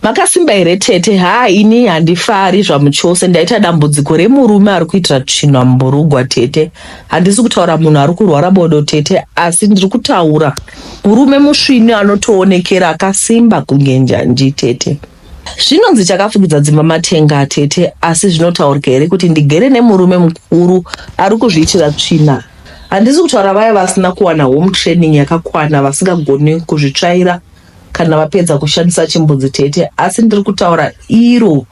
Makasimba here tete? Haa ini handifari zvamuchose ndaita dambudziko remurume ari kuitira tsvina mumburugwa tete. Handisi kutaura munhu ari kurwara bodo tete asi ndiri kutaura murume musvinu anotoonekera akasimba kunge njanji tete. Zvinonzi chakafukidza dzimba matenga tete asi zvinotaurika here kuti ndigere nemurume mukuru ari kuzviitira tsvina? Handisi kutaura vaya vasina kuwana home training yakakwana vasingagoni kuzvitsvaira kana vapedza kushandisa chimbudzi tete asi ndiri kutaura iro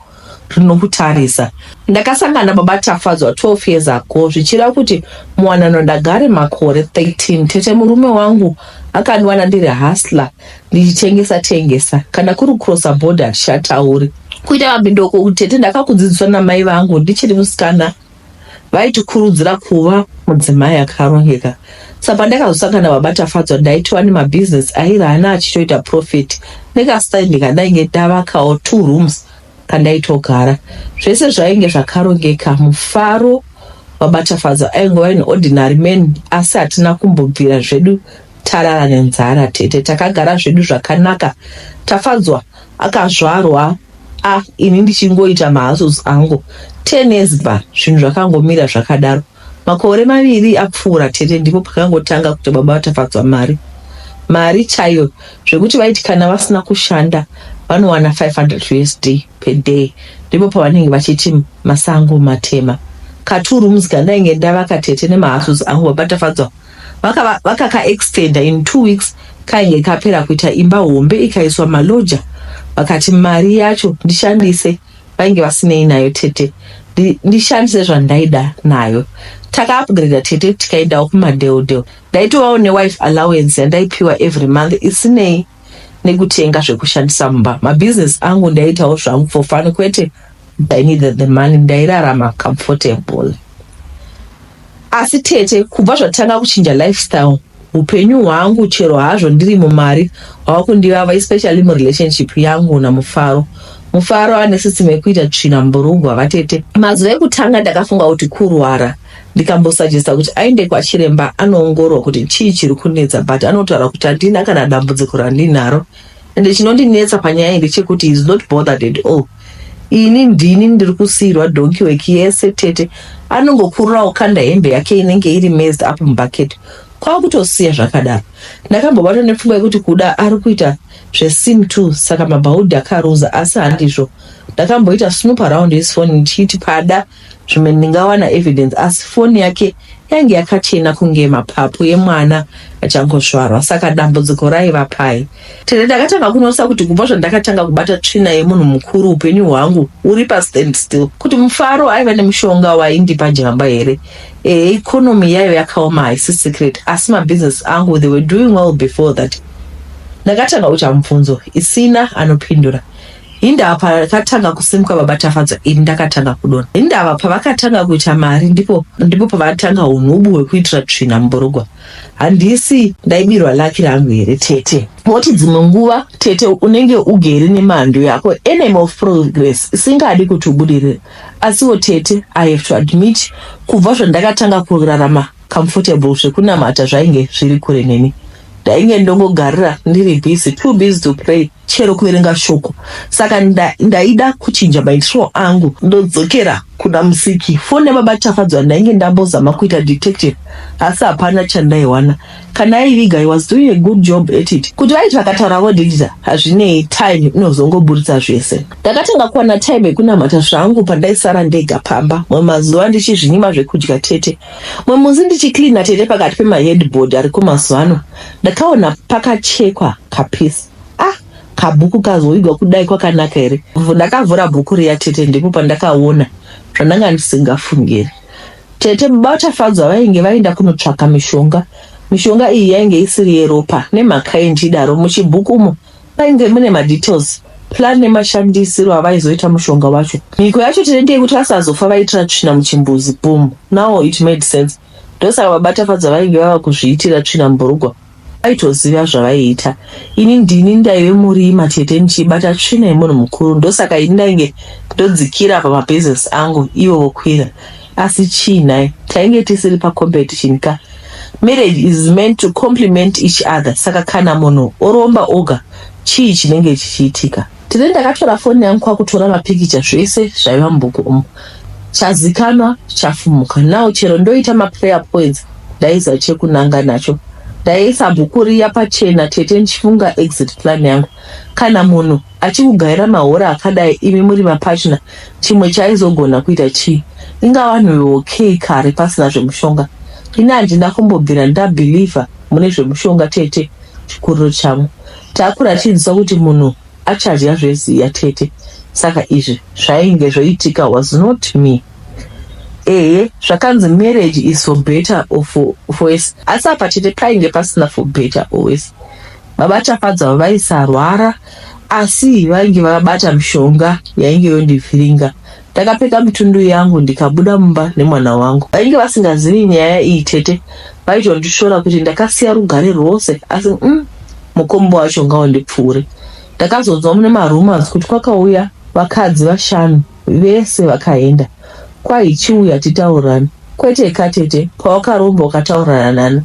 rinokutarisa ndakasangana baba tafadzwa 12 years ago zvichira kuti muwanano ndagare makore 13 tete murume wangu akandiwana ndiri hasla ndichitengesa tengesa kana kuri kucrossa border shatauri kuita mabindoko tete ndakakudzidziswa namai vangu ndichiri musikana vaitikurudzira kuva mudzimai akarongeka sa pandakazosangana baba tafadzwa ndaitova nemabhizinesi aive ana achitoita profit nekastaindi kandainge ndavakawo two rooms kandaitogara zvese zvainge zvakarongeka mufaro baba tafadzwa aingova in ordinary man asi hatina kumbobvira zvedu tarara nenzara tete takagara zvedu zvakanaka tafadzwa akazvarwa ah ini ndichingoita mahouses angu 10 years back zvinhu zvakangomira zvakadaro makore maviri apfuura tete ndipo pakangotanga kuti baba vatafadzwa mari mari chaiyo zvekuti vaiti kana vasina kushanda vanowana 500 usd per day ndipo pavanenge vachiti masango matema katuru muzika ndainge ndavaka tete nemahouses angu baba tafadzwa Vakava vakaka extender in two weeks kainge kapera kuita imba hombe ikaiswa malodger vakati mari yacho ndishandise vainge vasinei nayo tete ndi, ndishandise zvandaida nayo takaupgrader tete tikaendawo kumadeodeo ndaitovawo newife allowance yandaipiwa every month isinei nekutenga zvekushandisa mumba mabusiness angu ndaiitawo zvangu for fun kwete i needed the money ndairarama comfortable asi tete kubva zvatanga kuchinja lifestyle upenyu hwangu chero hazvo ndiri mumari hwava kundivava especially murelationship yangu namufaro mufaro ane sisimo yekuita tsvina mburugwa vatete mazuva ekutanga ndakafunga kuti kurwara ndikambosajesta kuti aende kwachiremba anoongorwa kuti chii chiri kunetsa but anotaura kuti handina kana dambudziko randinaro ende chinondinetsa panyaya iyi ndechekuti is not bothered at all ini ndini ndiri kusiirwa donki weki yese tete anongokururawo kanda hembe yake inenge iri mezed up mubucket kwakutosiya zvakadaro ndakambobatwa nepfungwa yekuti kuda ari kuita zvesim t saka mabhaudhi akaruza asi handizvo ndakamboita snoop around his phone ndichiti pada zvimwe ndingawana evidence asi foni yake yange yakachena kunge mapapu emwana achangozvarwa saka dambudziko raiva pai tete ndakatanga kunosa kuti kubva zvandakatanga kubata tsvina yemunhu mukuru upenyu hwangu huri pastand still kuti mufaro aiva nemushonga waindipa jamba here ehe economy yaiva yakaoma haisi secret asi mabusiness angu they were doing well before that ndakatanga kuita mubvunzo isina anopindura Hindava pakatanga kusimuka baba Tafadzwa ini ndakatanga kudona. Hindava pavakatanga kuita mari ndipo ndipo pavatanga unhubu hwekuitira tsvina muburugwa. Handisi ndaibirwa laki rangu here tete? Moti dzimwe nguva tete unenge ugere nemhandu yako enemy of progress isingadi kuti ubudirire. Asiwo tete I have to admit kubva zvandakatanga kurarama comfortable zvekunamata zvainge zviri kure neni. ndainge ndongogarira ndiri busy too busy to pray chero kuverenga shoko saka nda- ndaida kuchinja maitiro angu ndodzokera kuna musiki foni yababa tafadzwa ndainge ndambozama kuita detective asi hapana chandaiwana kana aiviga he was doing a good job at it kuti vaiti vakataura vodhidhita hazvinei time inozongoburitsa zvese ndakatanga kuwana time yekunamata zvangu pandaisara ndega pamba mamwe mazuva ndichizvinyima zvekudya tete Mumwe musi ndichicleana tete pakati pemaheadboard ariko mazuva ano ndakaona pakachekwa kapisi ah kabhuku kazoigwa kudai kwakanaka here ndakavhura bhuku riya tete ndipo pandakaona zvandanga ndisingafungiri tete baba vachafadzwa vainge vaenda kunotsvaka mishonga mishonga iyi yainge isiri yeropa nemhaka yendidaro muchibhuku umo Painge mune madetails plan nemashandisiro avaizoita mushonga wacho. Mhiko yacho tiri ndeyekuti vasazofa vaitira tsvina muchimbuzi. Boom. Now it made sense. Ndosaka baba Tafadzwa vainge vava kuzviitira tsvina mubhurugwa. Vaitoziva zvavaiita. Ini ndini ndaive murima tete ndichibata tsvina yemunhu mukuru ndosaka ini ndainge ndodzikira pamabusiness angu ivo vokwira. asi chii nhai tainge tisiri pacompetition ka marriage is meant to complement each other saka kana munhu oromba oga chii chinenge chichiitika tine ndakatora foni yangu kwakutora mapikicha zvese zvaiva mubhuku umu chazikanwa chafumuka now chero ndoita maprayer points ndaiziva chekunanga nacho ndaisa bhuku riya pachena tete ndichifunga exit plan yangu kana munhu achikugaira mahora akadai imi muri mapatna chimwe chaizogona kuita chii inga vanhu veokey kare pasina zvemushonga ini handina kumbobvira ndabhilivha mune zvemushonga tete chikuriro chavo takurachidzisa kuti munhu achadya zveziya tete saka izvi zvainge zvoitika was not me ehe zvakanzi marriage is for better or for, for worse asi apa tete painge pasina for better or worse Baba Tafadzwa vaisarwara asi vainge vakabata mishonga yainge yondivhiringa. Ndakapfeka mitundu yangu ndikabuda mumba nemwana wangu. Vainge vasingazivi nyaya iyi tete vaitondishora kuti ndakasiya rugare rwose asi mm, mukombo wacho ngaundipfuure. Ndakazonzwa mune marumors kuti kwakauya vakadzi vashanu Vese vakaenda. Kwahi chiuya titaurirane. Kwete ka tete pawakaromba ukataurirana nani?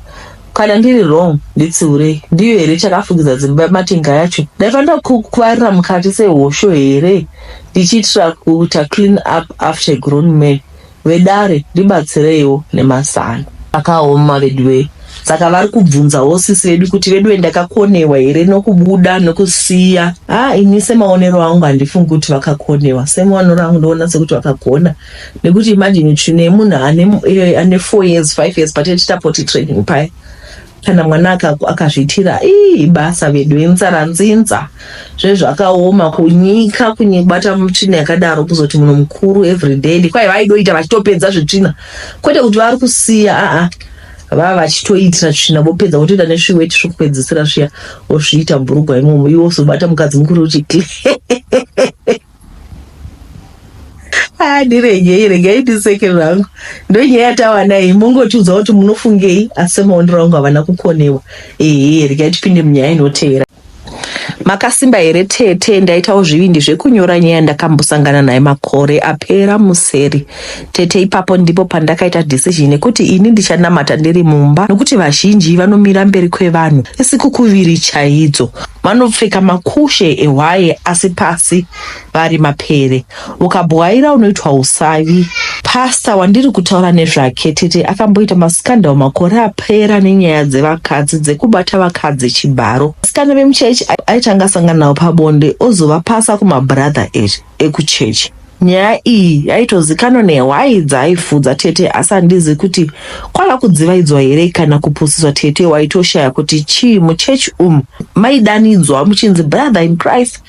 Kana ndiri wrong nditsiurei. Ndiyo here chakafukidza dzimba yematenga yacho? Ndaifanira kukuvarira mukati sehosho here ndichiitira kuita clean up after a grown man? Vedare ndibatsireiwo nemazano. Zvakaoma veduwee saka vari kubvunzawo sisi vedu kuti veduwee ndakakonewa here nokubuda nokusiya ah ini semaonero angu handifungi kuti vakakonewa semaonero angu ndoona sekuti vakagona nekuti imagine tsvina yemunhu ane, eh, ane four years five years patete tapoti training paya kana mwana aka- akazviitira ii basa vedu inzara nzinza zvezvakaoma kunyika kunyibata mutsvina yakadaro kuzoti munhu mukuru everyday kwai vaidoita vachitopedza zvitsvina kwete kuti vari kusiya aa vava vachitoitira tsvina vopedza votoita nesviweti zvokupedzisira zviya vozviita bhurugwa imomo iwo uzobata mukadzi mukuru uti kle Ah, ndiregei regei ndiseke zvangu ndonyaya yatawana iyi mongotiudza kuti munofungei asi semaonero angu havana kukonewa ehe regai tipinde munyaya inotevera makasimba here tete ndaitawo zvivindi zvekunyora nyaya ndakambosangana naye makore apera museri Tete ipapo ndipo pandakaita decision yekuti ini ndichanamata ndiri mumba nokuti vazhinji vanomira mberi kwevanhu isikukuviri chaidzo vanopfeka makushe ehwaye asi pasi vari mapere ukabwaira unoitwa usavi pasta wandiri kutaura nezvake tete akamboita mascandal makore apera nenyaya dzevakadzi dzekubata vakadzi chibharo vasikana vemuchechi aitanga sanganawo pabonde ozovapasa kumabradha eri ekuchechi. Nyaya iyi yaitozikanwa nehwai dzaaifudza tete asi handizi kuti kwava kudzivaidzwa here kana kupusiswa tete waitoshaya kuti chii muchechi umu maidanidzwa muchinzi brother in christ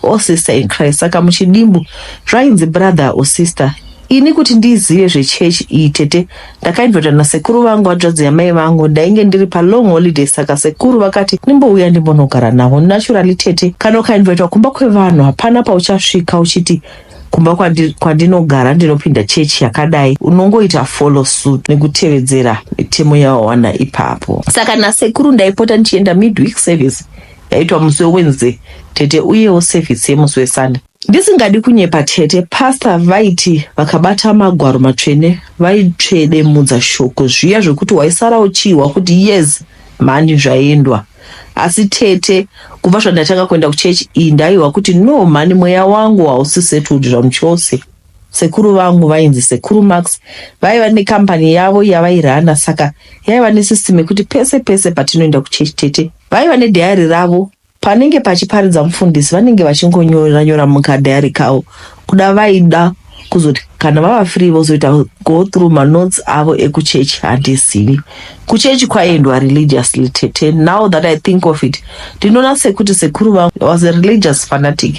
or sister in christ saka muchidimbu zvainzi brother or sister Ini kuti ndizive zvechechi iyi tete ndakainvitwa nasekuru vangu hanzvadzi yamai vangu ndainge ndiri palong holiday saka sekuru vakati ndimbouya ndimbonogara navo naturally tete kana ukainvitwa kumba kwevanhu hapana pauchasvika uchiti kumba kwandi, kwandinogara ndinopinda chechi yakadai unongoita follow suit nekutevedzera mitemo yawawana ipapo saka nasekuru ndaipota ndichienda midweek service yaitwa musi wewednesday tete uyewo service yemusi wesunday Ndisingadi kunyepa tete pastor vaiti vakabata magwaro matsvene vaitsvedemudza shoko zviya zvekuti waisara uchiihwa kuti yes mhani zvaendwa asi tete kubva zvandatanga kuenda kuchechi iyi ndaihwa kuti no mhani mweya wangu hausi settled zvamuchose sekuru vangu vainzi sekuru max vaiva nekambani yavo yavairana saka yaiva nesystem yekuti pese pese patinoenda kuchechi tete vaiva nedhayari ravo Panenge pachiparidza mufundisi vanenge vachingonyorera nyora mukadhayari kavo kuda vaida kuzoti kana vava free vozoita go through manotes avo ekuchechi handizivi kuchechi kwaiendwa religiously tete now that i think of it ndinoona sekuti sekuru vangu was a religious fanatic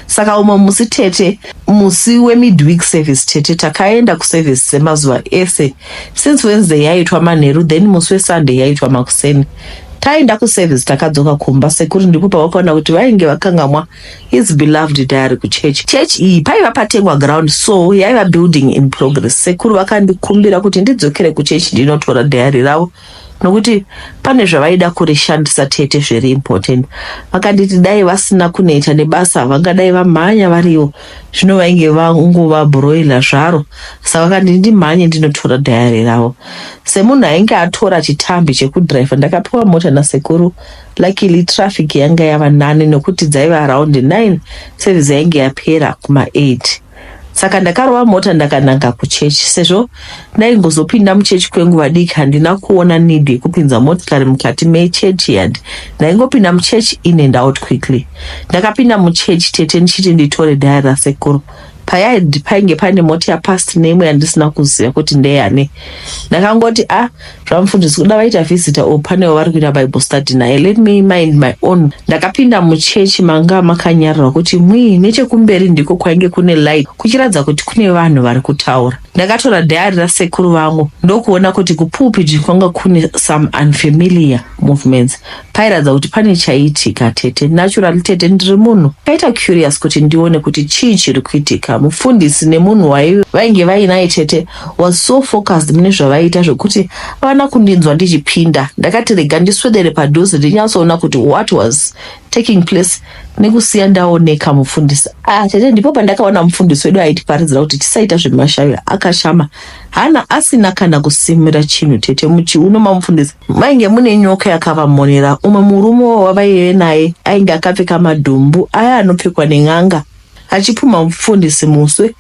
saka umwe musi tete musi wemidweek service tete takaenda kuservice semazuva ese since wednesday yaitwa manheru then musi wesunday yaitwa makuseni Taenda kuservice takadzoka kumba sekuru ndipo pavakaona kuti vainge vakangamwa his beloved diary kuchurch. Church iyi paiva patengwa ground so yaiva building in progress. Sekuru vakandikumbira kuti ndidzokere kuchurch ndinotora diary ravo nokuti pane zvavaida kurishandisa tete zviri important. Vakanditi dai vasina kuneta nebasa vangadai vamhanya varivo. zvino vainge vangova broiler zvaro saka vakanditi ndimhanye ndinotora dhayari ravo semunhu ainge atora chitambi chekudriver ndakapiwa mota nasekuru luckily traffic yanga yava nani nokuti dzaiva around 9 service yainge yapera kuma 8 saka ndakarova mota ndakananga kuchechi sezvo ndaingozopinda muchechi kwenguva diki handina kuona need yekupinza motikari mukati mechurch yard ndaingopinda muchurch in and out quickly ndakapinda muchurch tete ndichiti nditore dhaya rasekuru payaid painge paine mota yapast neimwe yandisina kuziva kuti ndeyane ndakangoti a ah, zvamufundisi kuda vaita visitor or pane wavari kuita bible study naye let me mind my own ndakapinda muchechi manga makanyararwa kuti mwii nechekumberi ndiko kwainge kune light kuchiratidza kuti kune vanhu vari kutaura ndakatora dhayari rasekuru vangu ndokuona kuti kupulpit kwanga kune some unfamiliar movements pairatidza kuti pane chaiitika tete naturally tete ndiri munhu kaita curious kuti ndione kuti chii chiri kuitika mufundisi nemunhu waive vainge vainaye tete was so focused mune zvavaiita zvekuti havana kundinzwa ndichipinda ndakati rega ndiswedere padhuze ndinyatsoona kuti what was taking place nekusiya ndaoneka mufundisi ah tete ndipo pandakaona mufundisi wedu aitiparidzira kuti tisaita zvemashavi akashama hana asina kana kusimira chinhu tete muchiuno mamufundisi mainge mune nyoka yakavamonera umwe murume wavaive naye ainge akapfeka madhumbu aya anopfekwa nen'anga Achipumha mufundisi muswe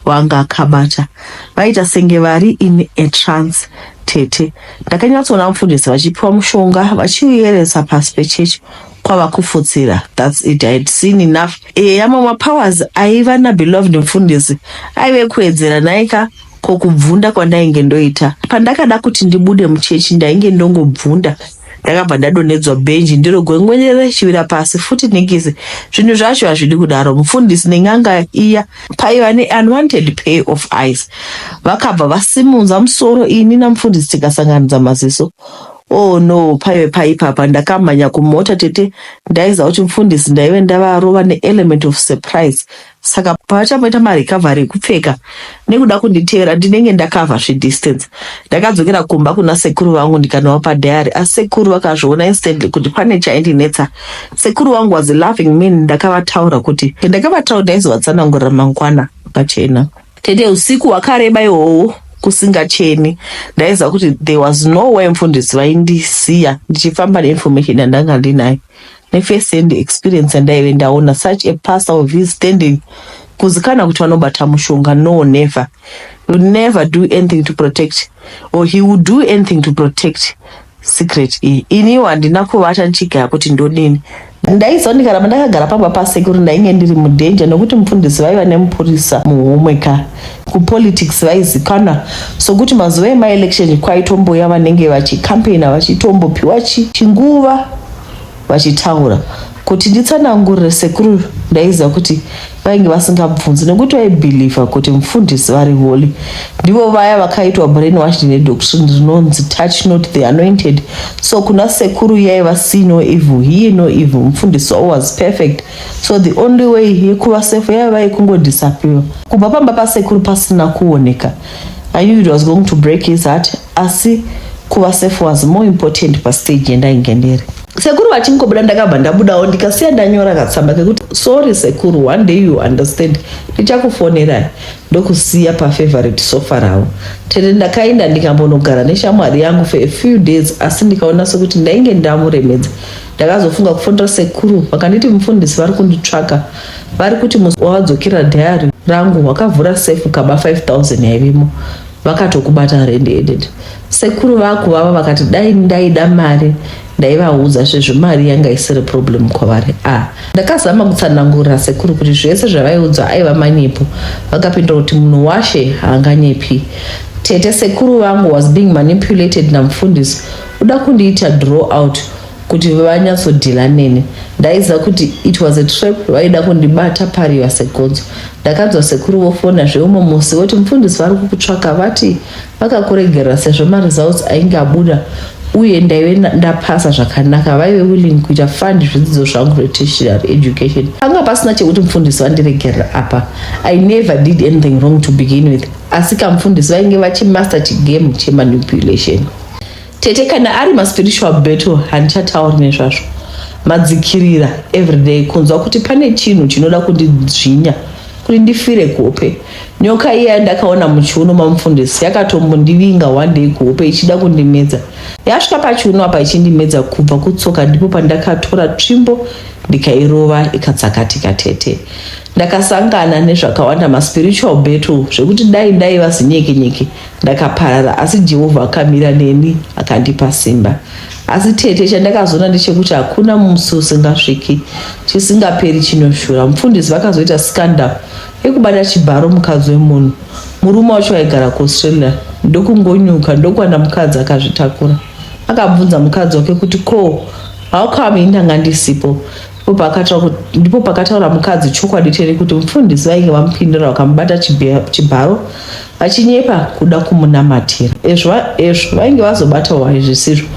wanga akabata vaita senge vari in a trance tete ndakanyatsoona mufundisi vachipiwa mushonga vachiuyeresa pasi pechurch kwava kufutsira thats it ihad seen enough eya mamwe powers aiva nabeloved mufundisi aive kuedzera naika ko kubvunda kwandainge ndoita pandakada kuti ndibude muchechi ndainge ndongobvunda ndakabva ndadonhedzwa bhenji ndiro gwengwenyere richivira pasi futi nikisi zvinhu zvacho hazvidi kudaro mufundisi nen'anga iya paiva neunwanted pay of eyes vakabva vasimunza musoro ini namufundisi tikasanganidza maziso oh no paive paipapa ndakamhanya kumota tete ndaiziva kuti mufundisi ndaive ndavarova neelement of surprise saka pavachamboita marecovery ekupfeka nekuda kunditevera ndinenge ndakavha zvedistance ndakadzokera kumba kuna sekuru vangu ndikanowapa diary asi sekuru vakazviona instantly kuti pane chaindinetsa sekuru vangu was loving me ndakavataura kuti ndakavataura ndaizovatsanangurira mangwana pachena tete usiku hwakareba ihoho kusingacheni ndaiziva kuti there was no way mfundisi vaindisiya ndichifamba neinformation yandanga ndinayo nefirst hand experience yandaive ndaona such a pastor of his standing kuzikana kuti vanobata mushonga no never will never do anything to protect or he will do anything to protect secret iyi iniwo handina kuvata ndichigaya kuti ndodini ndaiziva ndikaramba ndakagara pamba pasekuru ndainge ndiri mudenja nokuti mufundisi vaiva nemupurisa muhomwe ka kupolitics vaizikana sokuti mazuva emaelection kwaitomboya vanenge vachikampeina vachitombopiwa chinguva vachitaura kuti nditsanangurire sekuru ndaiziva kuti vainge vasingabvunzi nekuti vaibhilivha kuti mufundisi vari holy ndivo vaya vakaitwa brain wash nedoctrine rinonzi touch not the anointed so kuna sekuru yaiva see no evil here no evil mufundisi wavo was perfect so the only way yekuva safe yaiva yekungodisappear kubva pamba pasekuru pasina kuoneka i knew it was going to break his heart asi kuva safe was more important pastage yandainge ndiri sekuru vachingobuda ndakabva ndabudawo ndikasiya ndanyora katsamba kekuti sorry sekuru one day you understand ndichakufonerai ndokusiya pafavorite sofa ravo tete ndakaenda ndikambonogara neshamwari yangu for a few days asi ndikaona sekuti ndainge ndamuremedza ndakazofunga kufonera sekuru vakanditi mufundisi vari kunditsvaka vari kuti musi wavadzokera dhayari rangu wakavhura safe kaba 5000 yaivimo vakatokubata red headed sekuru vaku vava vakati dai ndaida mari ndaivaudza sezvo mari yanga isiri problem kwavari a ah, ndakazama kutsanangurira sekuru kuti zvese zvavaiudzwa aiva manyepo vakapindura kuti munhu washe haanganyepi tete sekuru vangu was being manipulated namufundisi uda kundiita draw out kuti vanyatsodhila neni ndaiziva kuti it was a trap vaida kundibata pariva segonzo ndakanzwa sekuru vofona zveumwe musi voti mufundisi vari kukutsvaka vati vakakuregerera sezvo maresults ainge abuda uye ndaive ndapasa zvakanaka vaive willing kuita fund zvidzidzo zvangu zvetertiary education panga pasina chekuti mufundisi vandiregerera apa i never did anything wrong to begin with asi kamufundisi vainge vachimaster chigame chemanipulation Tete kana ari ma spiritual battle handichatauri nezvazvo. Madzikirira everyday kunzwa kuti pane chinhu chinoda kundidzvinya kuti ndifire kuhope. Nyoka iya yandakaona muchiuno mamufundisi yakatombondivinga one day kuhope ichida kundimedza. Yasvika pachiuno apa ichindimedza kubva kutsoka ndipo pandakatora tsvimbo ndikairova ikatsakatika tete. Ndakasangana nezvakawanda ma spiritual battle zvekuti dai ndaiva zinyeke nyeke Ndakaparara asi Jehovha akamira neni akandipa simba. Asi tete, chandakazoona ndechekuti hakuna musi usingasviki, chisingaperi chinoshura. Mufundisi vakazoita scandal yekubata chibharo mukadzi wemunhu. Murume wacho aigara kuAustralia ndokungonyuka ndokuwana mukadzi akazvitakura. Akabvunza mukadzi wake kuti ko how come ini ndanga ndisipo? Ndipo pakataura mukadzi chokwadi cheri kuti mufundisi vainge vamupindura vakamubata chibharo achinyepa kuda kumunamatira ezvo ezvo vainge vazobata wari zvisizvo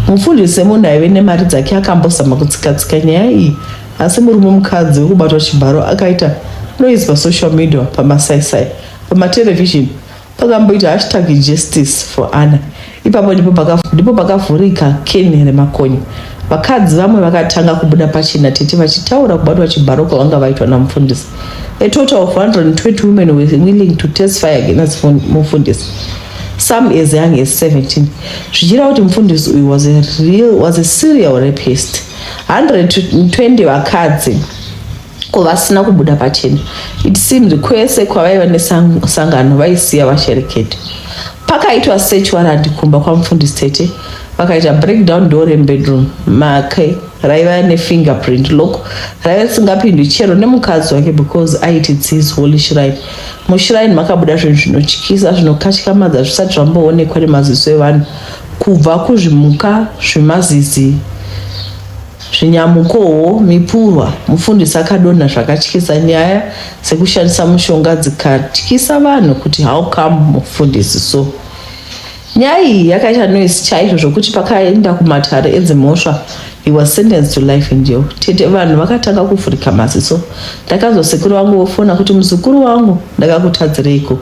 mufundisi semunhu aive nemari dzake akambozama kutsikatsika nyaya iyi asi murume mukadzi wekubatwa chibharo akaita noise pasocial media pamasaisai pamaterevhizheni pakamboita hashtag justice for anna Ipapo ndipo paka- ndipo pakavhurika keni remakonye. Vakadzi vamwe vakatanga kubuda pachena tete vachitaura kubatwa chibharo kwavanga vaitwa namufundisi. A total of 120 women were willing to testify against fun- mufundisi. Some as young as 17. Zvichira kuti mufundisi uyu was a real was a serial rapist. 120 vakadzi ko vasina kubuda pachena it seems kwese kwavaiva nesangano vaisiya vasherekete pakaitwa search warrant kumba kwamufundisi tete vakaita breakdown door rebedroom make raiva nefingerprint lock raiva risingapindwi chero nemukadzi wake because aiti tis holy shrine mushrine makabuda zvinhu zvinotyisa zvinokatyamadza zvisati zvamboonekwa nemaziso evanhu kubva kuzvimuka zvemazizi Zvinyamukowo, mipurwa, mufundisi akadonha zvakatyisa nyaya dzekushandisa mushonga dzikatyisa vanhu kuti how come mufundisi so. Nyaya iyi yakaita noise chaizvo zvokuti pakaenda kumatare edzimhosva he was sentenced to life in jail. Tete vanhu vakatanga kuvhurika maziso. Ndakanzwa sekuru vangu vofona kuti muzukuru wangu ndakakutadzireiko.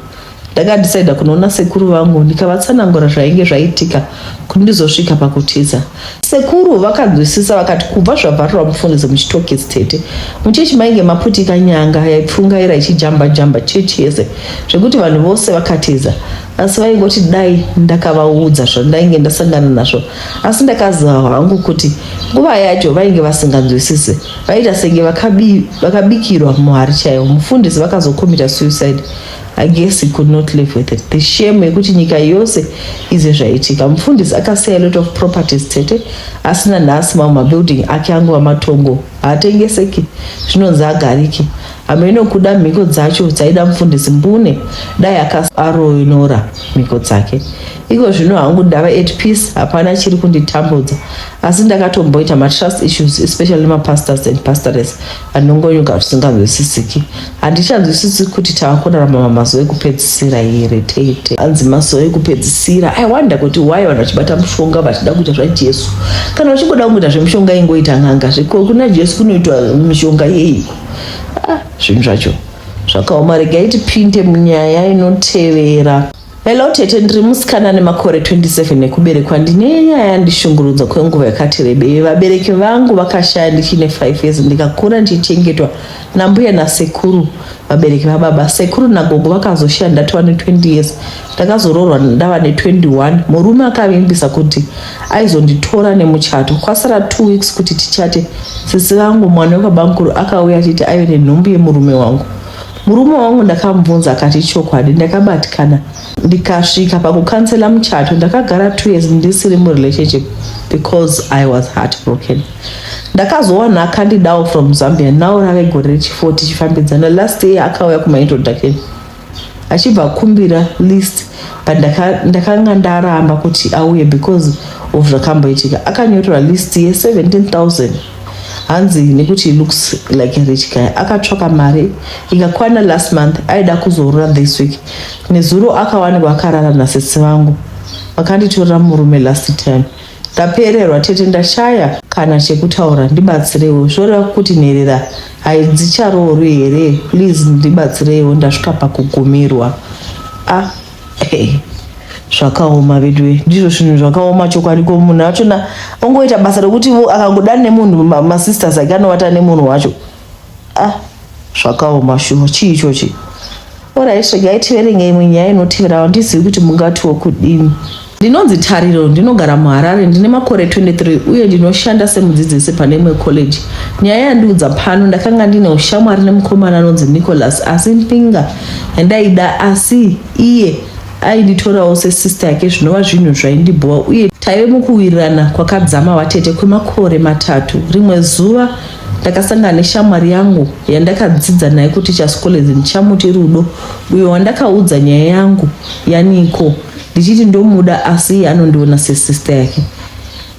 ndakadecider kunoona sekuru vangu ndikavatsanangura zvainge zvaitika kuti ndizosvika pakutiza sekuru vakanzwisisa vakati kubva zvavharira mufungizi muchitokisi tete muchechi mainge maputika nyanga yaipfungaira ichijamba jamba chechi yese zvekuti vanhu vose vakatiza asi vaingoti dai ndakavaudza zvandainge ndasangana nazvo asi ndakaziva hangu kuti nguva yacho vainge vasinganzwisise vaita senge vakabikirwa muhari chaiwo mufundisi vakazokomita suicide I guess he could not live with it. The shame yekuti nyika yose ize zvaitika. Mufundisi akasiya a lot of properties tete asina nhasi mamwe mabuilding ake angova matongo haatengeseki zvinonzi agariki. Hameno kuda mhiko dzacho dzaida mufundisi mbune dai akasaroinora mhiko dzake. Iko zvino hangu ndava at peace hapana chiri kunditambudza asi ndakatomboita matrust issues especially mapastors and pastores anongonyuka zvisinganzwisisiki handichanzwisisi kuti tava kurarama mamazuva ekupedzisira here tete anzi mazuva ekupedzisira i wonder kuti why vanhu vachibata mushonga vachida kuita zvajesu kana vachingoda kungoita zvemushonga ingoita n'anga zveko kuna jesu kunoitwa mishonga yeiko ah, zvinhu zvacho zvakaoma rega iti pinde munyaya inotevera Hello tete, ndiri musikana ane makore 27 ekuberekwa. Ndine nyaya yandishungurudza kwenguva yakati rebei. Vabereki vangu vakashaya ndichine 5 years ndikakura ndichichengetwa nambuya nasekuru, vabereki vababa. Sekuru nagogo vakazoshaya ndatova ne20 years. Ndakazoroorwa ndava ne21. Murume akavimbisa kuti aizonditora nemuchato. Kwasara 2 weeks kuti tichate, sisi vangu mwana wekabamukuru akauya achiti aive nenhumbu yemurume wangu. Murume wangu ndakamubvunza akati chokwadi ndakabatikana ndikasvika pakukansela muchato ndakagara two years ndisiri murelationship because i was heartbroken ndakazowana akandidawo from zambia now rave gore rechifour tichifambidzana last year akauya kumaintroduction achibva kumbira list but ndakanga ndaramba kuti auye because of zvakamboitika akanyorora list ye 17000 hanzi nekuti looks like a rich guy akatsvaka mari ikakwana last month aida kuzorora this week nezuro akawanikwa akarara nasisi vangu vakanditorera murume last time ndapererwa tete ndashaya kana chekutaura ndibatsireiwo zvoreva kuti nherera haidzicharoorwi here please ndibatsireiwo ndasvika pakugumirwa ah Hey, zvakaoma veduwe ndizvo zvinhu zvakaoma chokwadi ko munhu achona ongoita basa rekuti akangoda nemunhu masisters ake anovata nemunhu wacho ah zvakaoma shuwa chii ichochi orit regai tiverengei imwe nyaya inotivirawo ndizivi kuti mungatiwo kudini Ndinonzi Tariro, ndinogara muHarare, ndine makore 23 uye ndinoshanda semudzidzisi pane imwe college. Nyaya yandiudza pano, ndakanga ndine ushamwari nemukomana anonzi Nicholas asi Mpinga yandaida asi iye ainditorawo sesista yake zvinova zvinhu zvaindibhowa uye taive mukuwirirana kwakadzama vatete kwemakore matatu. Rimwe zuva ndakasangana neshamwari yangu yandakadzidza naye kuti chaskolezi ndichamuti Rudo uyo wandakaudza nyaya yangu yaniko ndichiti ndomuda asi iye anondiona sesista yake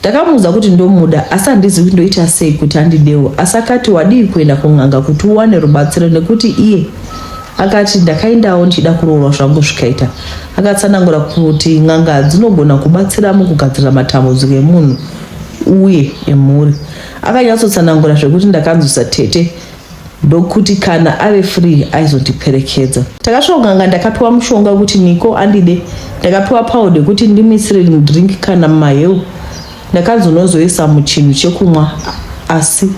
ndakamuudza kuti ndomuda asi handizivi kuti ndoita sei kuti andidewo asi akati wadii kuenda kun'anga kuti uwane rubatsiro nekuti iye akati ndakaendawo ndichida kuroorwa zvangu zvikaita akatsanangura kuti n'anga dzinogona kubatsira mukugadzira matambudziko emunhu uye emhuri akanyatsotsanangura zvekuti ndakanzwisa tete ndokuti kana ave free aizotiperekedza. Takasvoganga ndakapiwa mushonga wekuti Niko andide, ndakapiwa powder yekuti ndimuisire rimudrink kana mumaheu. Ndakanzonozoisa muchinhu chekumwa asi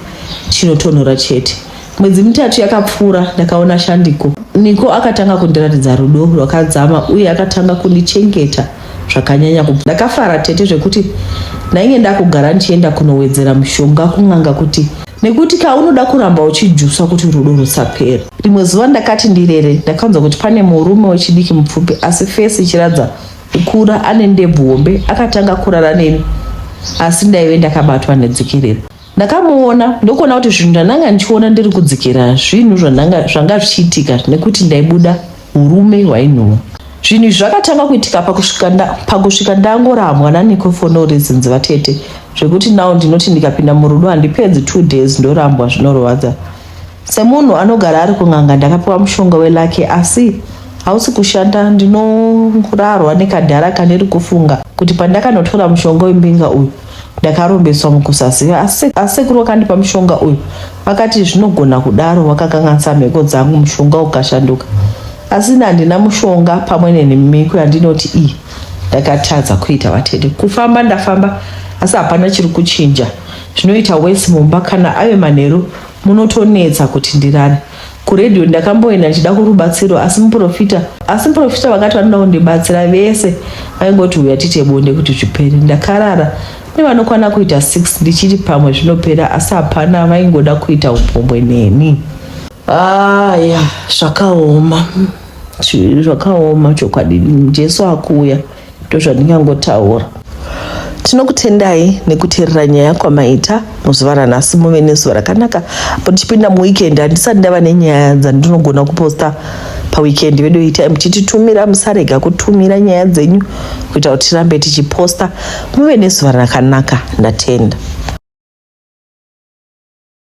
chinotonhora chete. Mwedzi mitatu yakapfuura ndakaona Shandiko. Niko akatanga kundiratidza rudo rwakadzama uye akatanga kundichengeta zvakanyanya. Kubva ndakafara tete zvekuti ndainge ndakugara ndichienda kunowedzera mushonga kun'anga kuti nekuti ka unoda kuramba uchijusa kuti rudo rusapera rimwe zuva ndakati ndirere ndakanzwa kuti pane murume wechidiki mupfupi asi fesi ichiradza kukura ane ndebvu hombe akatanga kurara neni asi ndaive ndakabatwa nedzikerera ndakamuona ndokuona kuti zvinhu ndandanga ndichiona ndiri kudzikira zvinhu zvanga zvichiitika nekuti ndaibuda Urume hwainhuwa. Zvinhu izvi zvakatanga kuitika pakusvika nda, pakusvika ndangorambwa nanikofono rezinzi vatete zvekuti now ndinoti ndikapinda murudo handipedzi two days ndorambwa zvinorwadza. Semunhu anogara ari kun'anga ndakapiwa mushonga welake asi hausi kushanda ndinorarwa nekadhara kaniri kufunga kuti pandakanotora mushonga wembinga uyu ndakarombeswa mukusaziva asi asekuru wakandipa mushonga uyu vakati zvinogona kudaro wakakanganisa mhiko dzangu mushonga ukashanduka asi ini handina mushonga pamwe nenhimiko yandinoti iyi ndakatadza kuita vatete kufamba ndafamba asi hapana chiri kuchinja zvinoita wesi mumba kana ave manheru munotonetsa kuti ndirare kuredio ndakamboenda ndichida kurubatsiro asi muprofita asi muprofita vakati vanoda kundibatsira vese vaingoti uya tiite bonde kuti zvipere ndakarara nevanokwana kuita 6 ndichiti pamwe zvinopera asi hapana vaingoda kuita upombwe neni aya zvakaoma zvakaoma chokwadi jesu akuuya ndozvandingangotaura tinokutendai nekuteerera nyaya kwamaita muzuva ranhasi muve nezuva rakanaka apo tichipinda muweekend handisati ndava nenyaya dzandinogona kuposta paweekend vedu itai muchititumira musarega kutumira nyaya dzenyu kuita kuti tirambe tichiposta muve nezuva rakanaka ndatenda